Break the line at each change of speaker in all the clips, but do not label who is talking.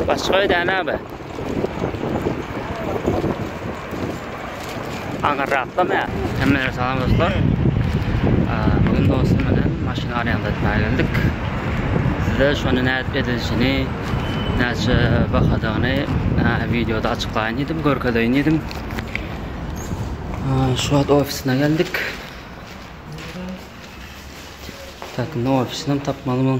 Başga öýdäne abi. Aňa rahatlama. Hemmelere salam dostlar. Bugün dostum bilen maşyn araýanda etmäge geldik. Size şony nädip edilişini, näçe bahadygyny videoda açyklaýyn diýdim, görkezeýin diýdim. Şu wagt ofisine geldik. Takynda ofisini tapmaly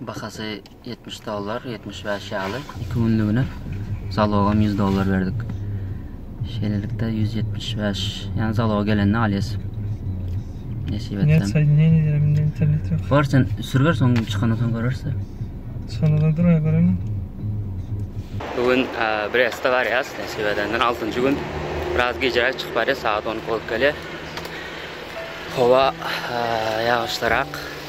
Bahasy ýetmiş dollar, ýetmiş bäş ýaly. Iki günlügine zalogam ýüz dollar berdik. Şeýlelikde ýüz ýetmiş bäş, ýani zalog gelende alýas. Nesip etsem. Näçe aýdym, näme
diýerim, indi internet ýok. Bar sen sürüber, soň
çykana soň görerse. Çykana
dur aý görene.
Bu gün Brestde barýas, nesip edenden altynjy gün. Biraz gijeräk çykyp barýas, sagat on iki bolup gelýär. Howa ýagyşlyrak.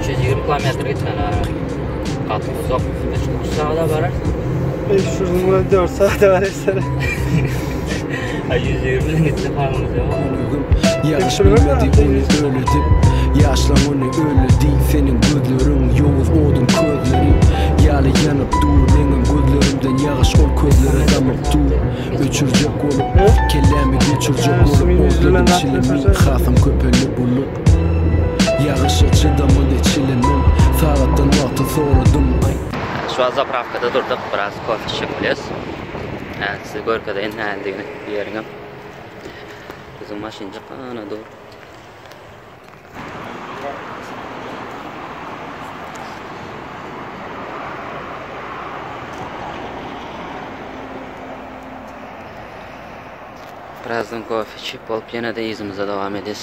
320
kilometr gitmeli ha.
Gaty uzak. 3 saada barar. 500 mil 4 saada
barar. Ay 120 ile gitse
paramız yok. Ýaş bilmedi ony öli dip Ýaşlaň ony öli diý Seniň gözleriň ýowuz odun közleri Ýaly ýanyp dur Meňem gözlerimden ýagyş ol közlere damyp dur Öçürjek bolup Kellämi göçürjek bolup Ol dedim çilimi Hasam köpeldi bulut Ýagyşa çydamly we çile mum. Sagatdan wagty soradym aý. Şu wagt
zapravkada durduk biraz kofe içjek bolýas. Häzir size görkezeýin näledigini bu ýeriňem. Biziň maşynjyk ana dur. Birazdan kofe içip bolup ýene-de yzymyza dowam edýäs.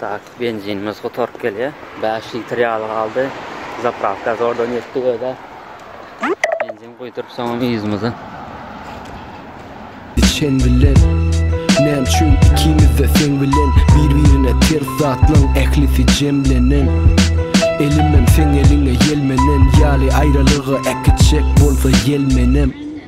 Tak benzinimiz gutaryp gelýär. Bäş litr ýaly galdy. Zapravka zordan ýetdik özä. Benzin guýduryp soňam yzymyza.
Sen bilen Näme üçin ikimiz-de seň bilen Bir-birine ters zatlaň ählisi jemlenen Elimem seň eliňe ýelmenen ýaly Aýralyga äkitjek bolsa ýel menem.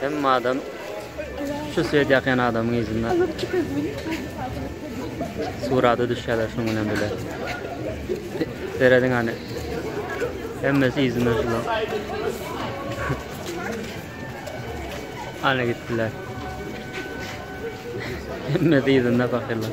Hemme adam şu swet ýakýan adamyň yzynda surata düşýärler şunuň bilen bile. Serediň hany. Hemmesi yzynda şular. Hany gitdiler. Hemmesi yzynda fakirler.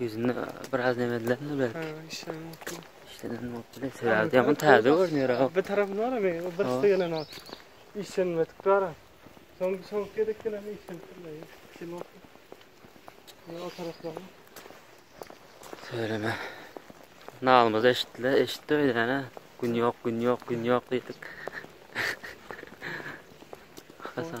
Ýüzünde
biraz nemedilermi belki? Ha, işden bolupdyr.
İşden bolupdyr.
Sebäbi ýaman täze görünýär ha. Bir tarapy bar hem, o
birisi gelen o. Işlenmedik bar. Soň soň gerek gelen işlenipdirler. Kim bolsa. Ya o taraflar.
Söyleme. Nalmaz eşitdiler, eşitdi öyle yani. Gün yok, gün yok, gün yok dedik. Hasan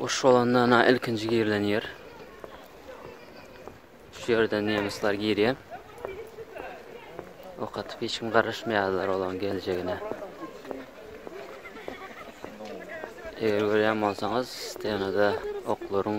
Uruş bolanda ana ilkinji girilen ýer. Şu ýerden nemesler girýär. Ok atyp hiç kim garaşmaýarlar olaň geljegine. Eger görýän bolsaňyz, stenada oklaryň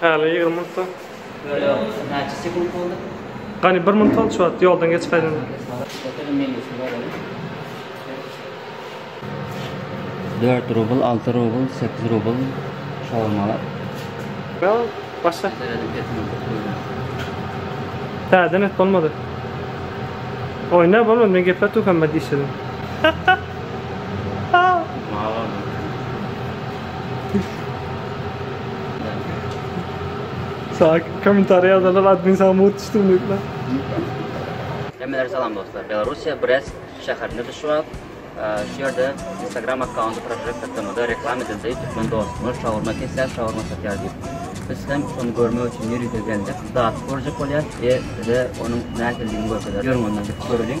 Häli ýigrimi
minut bar. Ýöne
näçe sekunt boldy? Gani bir
minut boldy şu wagt ýoldan geçip gaýdanda. Otele
menýusyna baralım. Dört rubl, alty rubl, sekiz rubl şaurmalar.
Ýok, başga. Täzeden et bolmady. Oýna bolmady men gepletdim hemme dişlerini. Saýk kommentariýa ýazanlar admin saňa mugt düşdüm diýipler.
Hemmelere salam dostlar. Belarusiýa Brest şäherinde düşüp, şu ýerde Instagram akkaunty Project Atamada reklam edildi. Türkmen dostumyz şawurma kesýär, şawurma satýar diýip. Biz hem şony görmek üçin ýer ýüze geldik. Zat görjek bolýar we size onuň nähilidigini görkezýär. Ýörüň ondan gidip göreliň.